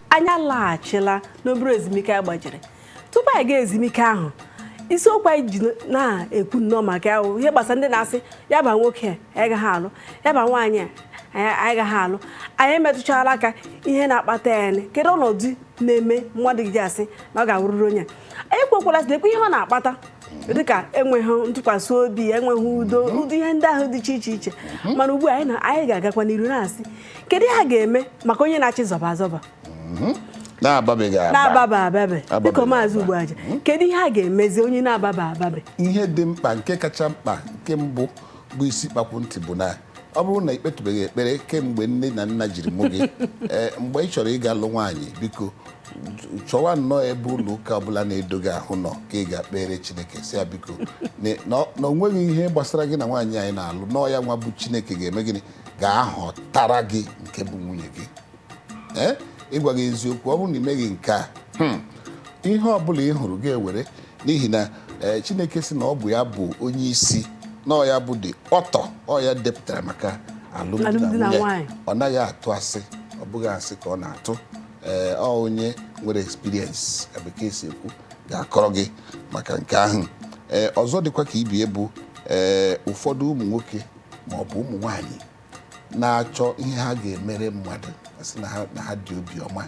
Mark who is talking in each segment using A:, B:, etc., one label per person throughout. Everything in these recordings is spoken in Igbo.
A: anyị alaghachila n'obere ezumike a gbajiri tupu anyị gaa ezumike ahụ isiokwu anyị ji na-ekwu nnọọ maka ya bụ ihe gbasara ndị na-asị ya ba nwoke a, anyị gaghị alụ ya ba nwaanyị a, anyị gaghị alụ anyị emetụchala aka ihe na-akpata ya nị. kedu ọnọdụ na-eme mmadụ ji asị na ọ ga-awụrụrụ onye a ekwuokwala sịkwa ihe ọ na-akpata dịka enweghị ntụkwasị obi enweghị udo ụdị ihe ndị ahụ dị iche iche iche mhm. mana ugbu a anyị ga-agakwa n'iru na-asị kedu ihe a ga-eme maka onye na-achọ ịzọba azọba mhm. na-ababa ababe dịka maazị Ugboaja mhm. kedu ihe a ga-emezi onye na-ababa ababe ihe dị mkpa nke
B: kacha mkpa nke mbụ bụ isi kpakwu ntị bụ na ọ bụrụ na i kpetubeghị ekpere kemgbe nne na nna jiri mụ gị eh, mgbe ị chọrọ ịga lụ nwaanyị biko chọwa nnọọ ebe ụlọ ụka ọbụla na-edo gị ahụ nọ ka ị gaa kpeere Chineke sị ya biko na o nweghị ihe gbasara gị na nwaanyị anyị na-alụ na ọ ya nwa bụ Chineke ga-eme gịnị ga-ahọtara gị nke bụ nwunye gị ee ịgwa gị eziokwu ọ bụrụ na i meghị nke a hmm, ihe ọ bụla ị hụrụ gị ewere n'ihi na eh, Chineke sị na ọ bụ ya bụ onye isi na ọ ya bụ the author ọ ya depụtara maka alụmdi na Alụmdi na nwunye nwaanyị. ọ naghị atụ asị ọ bụghị asị ka ọ na-atụ ee ọ onye nwere experience ka bekee si ekwu ga-akọrọ gị maka nke ahụ ee ọzọ dịkwa ka ibie bụ ee ụfọdụ ụmụ nwoke ma ọ bụ ụmụ nwaanyị na-achọ ihe ha ga-emere mmadụ a sị na ha- na ha dị obiọma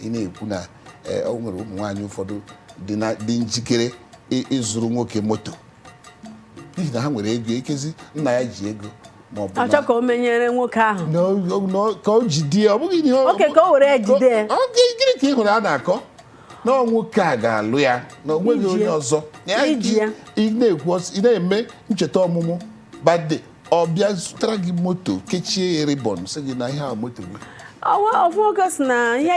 B: ị na-ekwu na eh, o nwere ụmụ nwaanyị ụfọdụ dị na- dị njikere ị- ịzụrụ nwoke moto n'ihi na ha nwere ego ekezi nna ya ji ego ma ọ bụ na- achọ ka
A: o menyere nwoke ahụ na o- na o- ka o jide
B: ya, ọ bụghị ihe ọ- Oke, ka o were ya jide
A: ya. Ọ- ọ- gị- gịnị ka ị hụrụ
B: a na-akọ na ọ nwoke a ga-alụ ya na o nweghị Iji onye ya. ọzọ Ya Iji ya. ị na-ekwu ọs- ị na-eme ncheta ọmụmụ birthday ọ bịa zụtara gị moto kechie ya ribbon sị gị na ihe a moto gị ofu
A: nwoke sị na ihe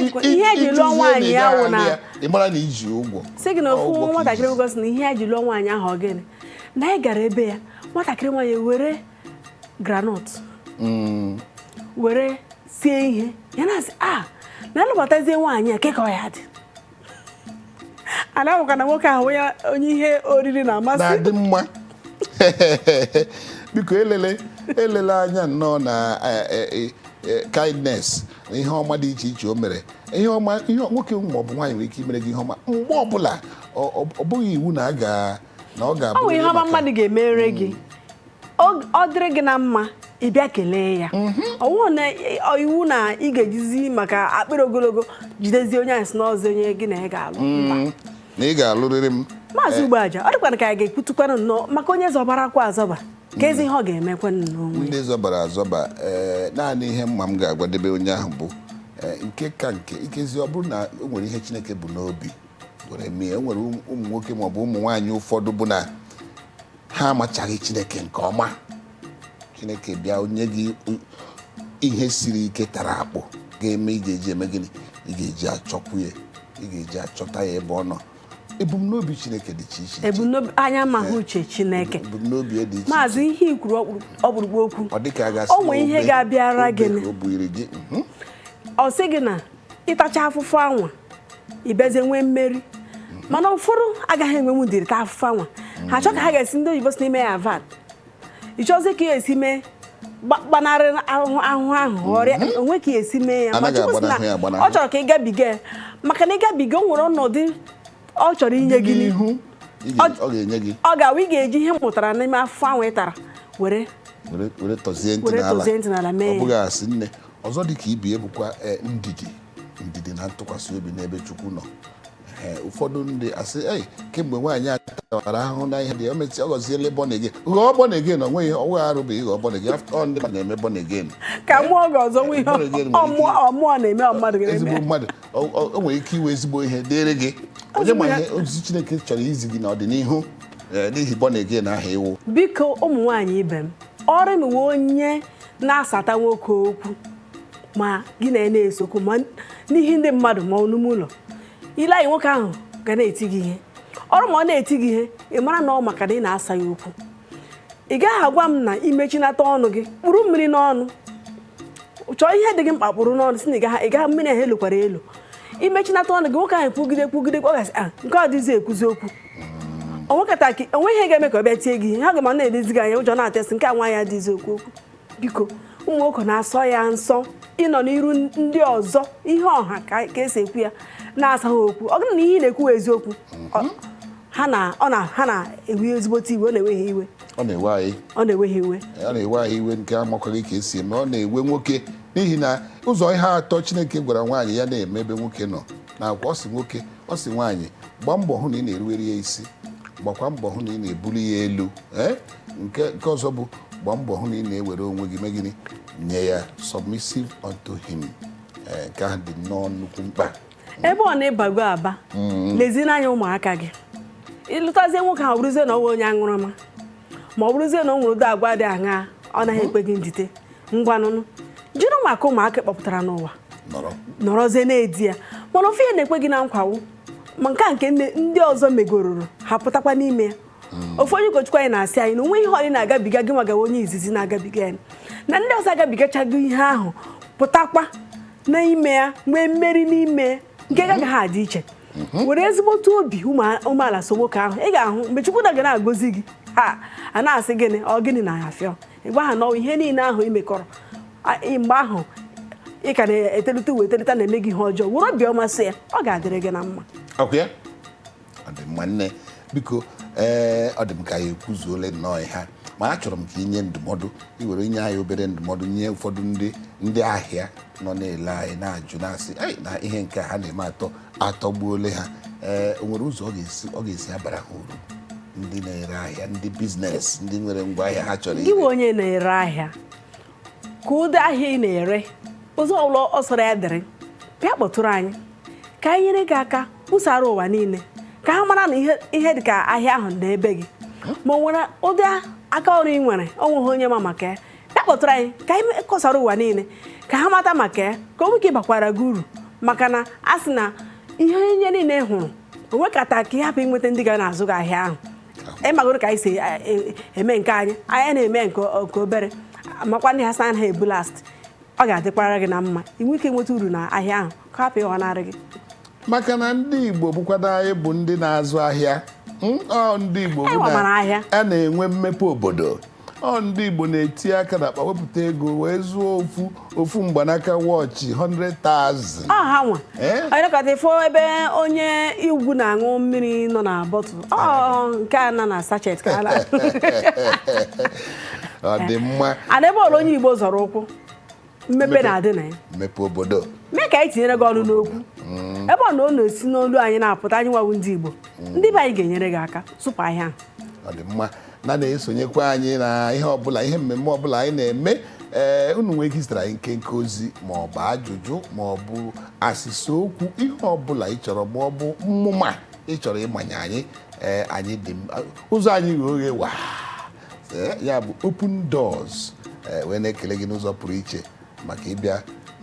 A: e ji lụọ nwaanyị ya wụ na ị mara na i
B: ji ụgwọ sị gị na ofu
A: nwatakịrị nwoke sị na ihe e ji lụọ nwaanyị ahụ gịnị na anyị gara ebe ya nwatakịrị nwaanyị were groundnut mm. were sie ihe ya na-asị a ah, na a lụbatazie nwaanyị a kee ka ọ ya-adị a na-ahụka na nwoke ahụ ya onye ihe oriri na-amasị na-adị mma
B: biko elele elele anya nnọọ na eh, eh, eh, eh, kindness na ihe ọma dị iche iche o mere ihe ọma ihe nwoke ma ọ bụ nwaanyị nwere ike imere gị ihe ọma mgbe ọbụla ọ ọ- ọ bụghị iwu na a ga na ọ ga-abụ ọ bụ ihe ọma mmadụ ga-emere
A: gị ọ dịrị gị na mma ị bịa kelee ya mhm. ọwụụ na iwu na ị ga-ejizi maka akpịrị ogologo jidezie onye ahụ sị na ọ wụzi onye gị na ya ga-alụ mhm. na ị
B: ga-alụrịrị m maazị eh. Ugboaja ọ
A: dịkwana ka anyị ga-ekwutukwanụ nnọọ maka onye zọbara kwa azọba kezi ihe ọ ga-emekwanụ o nwee ndị zọbara
B: azọba eh, naanị ihe mma m ga-agwadebe onye ahụ bụ eh, nke ka nke ikezi ọ bụrụ na o nwere ihe Chineke bụ n'obi were mee e nwere ụmụ nwoke maọbụ ụmụ nwaanyị ụfọdụ bụ na ha amachaghị chineke nke ọma chineke bịa nye gị ihe siri ike tara akpụ ga-eme ị ga-eji eme gịnị ị ga-eji achọkwu ya ị ga-eji achọta ya ebe ọ nọ ebumnobi chineke dị iche iche ebumnobi anyị
A: amaghị uche chineke ebumnobi ya dị
B: iche maazị ihe i kwuru ọkpụrụ-
A: ọkpụrụkpụ okwu ọ dịka a ga-asị O nwee
B: ihe ga-abịara
A: gị na- o buiri gị mhm. ọ sị gị na ị tacha afụfụ anwa ị bịazie nwee mmeri mana ụfọdụ agaghị enwenwu ndidi ta afụfụ anwa ha chọọ ka ha ga-esi ndị oyibo sị maneuver it ị chọzi ka ị ya-esi mee gbanarị ahụhụ ahụ ọrịa mhm. o nwee ka e si mee ya ọ chọrọ ka ị gabiga ya maka na ị gabiga o nwere ọnọdụ ọ chọrọ inye gị n'ihu ọ ga-awụ ị ga-eji ihe ị mụtara n'ime afụfụ anwa ị tara were
B: tọzie ntị n'ala mee ya ọzọ dị ka ibe ya bụkwa e, ndidi ndidi na ntụkwasị obi n'ebe chukwu nọ Ee, ụfọdụ ndị asị ei kemgbe nwaanyị a tawara ahụhụ n'ihi di ya, o mesi ọ ghọziele born again ghọọ born again ọ nweghị ọnwa arụ bụ ịghọ born again after all ndị mmadụ na-eme born again ka mụọ
A: gị ọzọ nwe ihe Born again nwere ọmụọ ike- ọmụọ na-eme ọ mmadụ ga-eme ezigbo
B: mmadụ o o- o nwere ike ịwụ ezigbo ihe dịrị gị onye ma ihe ozizi chineke chọrọ izi gị n'ọdịnihu ee, n'ihi born again ahụ ị wụ biko ụmụ nwaanyị
A: ibe m ọrịnụwa onye na-asata nwoke okwu ma gị na ya na-ese okwu ma n'ihu ndị mmadụ ma ọ n'ime ụlọ i lee anya nwoke ahụ ga na-eti gị ihe ọ bụrụ ma ọ na-eti gị ihe ị mara na ọ maka na ị na-asa ya okwu ị gaghị agwa m na i mechinata ọnụ gị kpụrụ mmiri n'ọnụ chọọ ihe dị gị mkpa kpụrụ n'ọnụ sị na ị gaghị mmiri ahụ elokwala elo i mechinata ọnụ gị nwoke ahụ kwugide kwugide ọ ga-asị ah, nke ọ dịzi ekwuzi okwu o nwekata ka o nwee ihe ga-eme ka ọ bịa tie gị ihe ha ga-ma na-elezi gị anya ụjọ na-atụ ya sị nke a nwa adịzi ekwu okwu biko ụmụ nwoke na-asọ ya nsọ ịnọ n'iru ndị ọzọ ihu ọha ka ka esi ekwu ya na-asa ha okwu ọ bụrụ na ihe ị na-ekwu wụ eziokwu ọ- ha na ọ na ha na-ewe ezigbote iwe ọ na-ewe ha iwe ọ na-ewe anyị
B: ọ na-ewe ha iwe
A: ọ na-ewe anyị iwe nke amakwaghị ka esi
B: eme ọ na-ewe nwoke n'ihi na ụzọ ihe atọ chineke gwara nwaanyị ya na-eme ebe nwoke nọ na agwa ọ sị nwoke ọ sị nwaanyị gbaa mbọ hụ na ị na-eruwere ya isi gbakwa mbọ hụ na ị na-ebuli ya elu ee nke nke ọzọ bụ gbaa mbọ hụ na ị na-ewere onwe gị mee gịnị nye ya submissive unto him ee nke ahụ dị nnọọ nnukwu mkpa ebe ọ na ị
A: bago aba lezie anya ụmụaka gị ị lụtazie nwoke ahụ ọ bụrụzie na ọ bụ onye aṅụrụma ma ọ bụrụzie na ọ nwere ụdị agwa dị aṅaa ọ naghị ekwe gị ndite ngwanụnụ jiri maka ụmụaka kpọpụtara n'ụwa nọrọzie na-edi ya mana ofu ihe na-ekwe gị na nkwa wụ ma nke a nke ndị ọzọ megororo ha pụtakwa n'ime ya hmm. ofu onye ụkọchukwu anyị na-asị anyị na o nweghị ihe ọ wụ ị na-agabiga gị nwa ga-awụ onye izizi na-agabiga ya na ndị ọzọ agabigachago ihe ahụ pụtakwa n'ime ya nwee mmeri n'ime nke gị agaghị adị iche mhm. were ezigbote obi umeala so nwoke ahụ ị ga-ahụ mgbe Chukwu nna ga na-agọzi gị ha a na-asị gịnị ọ gịnị na-afịọ ị gwa ha na ihe niile ahụ ị mekọrọ a- ị- mgbe ahụ ị ka na-etelite iwe etelite na-eme gị ihe ọjọọ were obiọma so ya ọ ga-adịrị gị na mma ọ kwa ya
B: ọ dị mma nne biko ee ọ dị m ka anyị ekwuzuole nnọọ ihe a. ma achọrọ m ka i nye ndụmọdụ i nwere inye anyị obere ndụmọdụ nye ụfọdụ ndị ndị ahịa nọ na-ele anyị na-ajụ na-asị "Ei, na ihe nke a ha na-eme atọ atọgbuole ha ee o nwere ụzọ ọ ga-esi ọ ga-esi abara ha uru ndị na-ere ahịa ndị biznes ndị nwere ngwa ahịa ha chọrọ gị ire. ị wụ onye na-ere
A: ahịa ka ụdị ahịa ị na-ere ụzọ ọbụla ọ sọrọ ya dịrị bịa kpọtụrụ anyị ka anyị nyere gị aka kwusara ụwa niile ka ha mara na ihe ihe dị ka ahịa ahụ na ebe gị ma o nwere ụdị aka ọrụ ị nwere o nweghị onye ma maka ya bịa kpọtụrụ anyị ka anyị kọsara ụwa niile ka ha mata maka ya ka o nwee ike bakwara gị uru maka na a sị na ihe onye niile hụrụ o nwekata ka ị hapụ inweta ndị ga na-azụ gị ahịa ahụ ịmagoro ka anyị si e- e- eme nke anyị anyị na-eme nke o- nke obere makwa ndị ha sa ha ebu last ọ ga-adịkwara gị na mma i nwee ike nweta uru na ahịa ahụ ka hapụ ịghọnarị gị maka na
B: ndị igbo bụkwado anyị bụ ndị na-azụ ahịa Mm, ọ ndị igbo Anyị bụ na- gbamara ahịa. a na-enwe mmepe obodo ọ ndị Igbo na-eti aka na akpa wepụta ego wee zụọ ofu ofu mgbanaka wọchị 100,000 ọ ha nwa
A: Eh? anyị nọkata ị fụ ebe onye Igbo na-aṅụ mmiri nọ na bọtụl ọ nke a nọ na sachet ka a
B: na ọ dị mma and ebe ọbụla onye igbo
A: zọrọ ụkwụ mmepe na-adị na ya mmepe
B: obodo mee ka anyị tinyere
A: gị ọnụ n'okwu mm. ebe ọ na ọ na-esi n'olu anyị na-apụta anyị nwa wụ ndị Igbo mm. ndị be anyị ga-enyere gị aka zụpụ ahịa ahụ ọ dị mma
B: na na-esonyekwa anyị na ihe ọbụla ihe mmemme ọbụla anyị na-eme ee eh, unu nwee ike zitere anyị nkenke ozi ma ọ bụ ajụjụ ma ọ bụ asịsa okwu ihe ọbụla ị chọrọ ma ọ bụ mmụma ị chọrọ ịmanye anyị ee eh, anyị dị ụzọ anyị ghe oghe waa Ee, ya bụ open doors ee, wee na-ekele gị n'ụzọ pụrụ iche maka ịbịa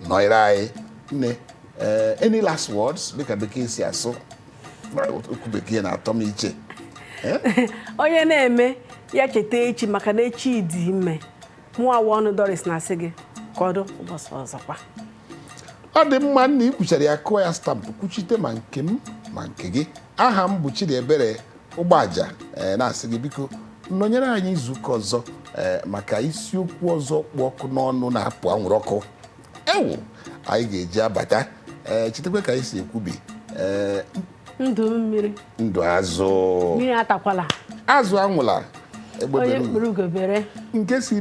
B: nọnyere anyị nne ee, any last words dịka bekee si asụ okwu bekee na-atọ m iche Ee,
A: onye na-eme ya cheta echi maka na echi dị ime mụwa Ọnụ Doris na-asị gị ka ọ dị ụbọchị
B: ọzọkwa ọ dị mma nna i kwuchara ya kụọ ya stampụ kwuchite ma nke m ma nke gị aha m bụ Chidiebere Ụgbaja eh, na-asị gị biko nọnyere anyị izuụka ọzọ eh, maka isiokwu ọzọ kpụ ọkụ n'ọnụ na-apụ anwụrụ ọkụ ewu anyị ga-eji abata ee eh, chetakwa ka anyị si ekwubi
A: ee ndụ mmiri ndụ
B: azụ mmiri
A: atakwala
B: azụ anwụla
A: egbe bere nke si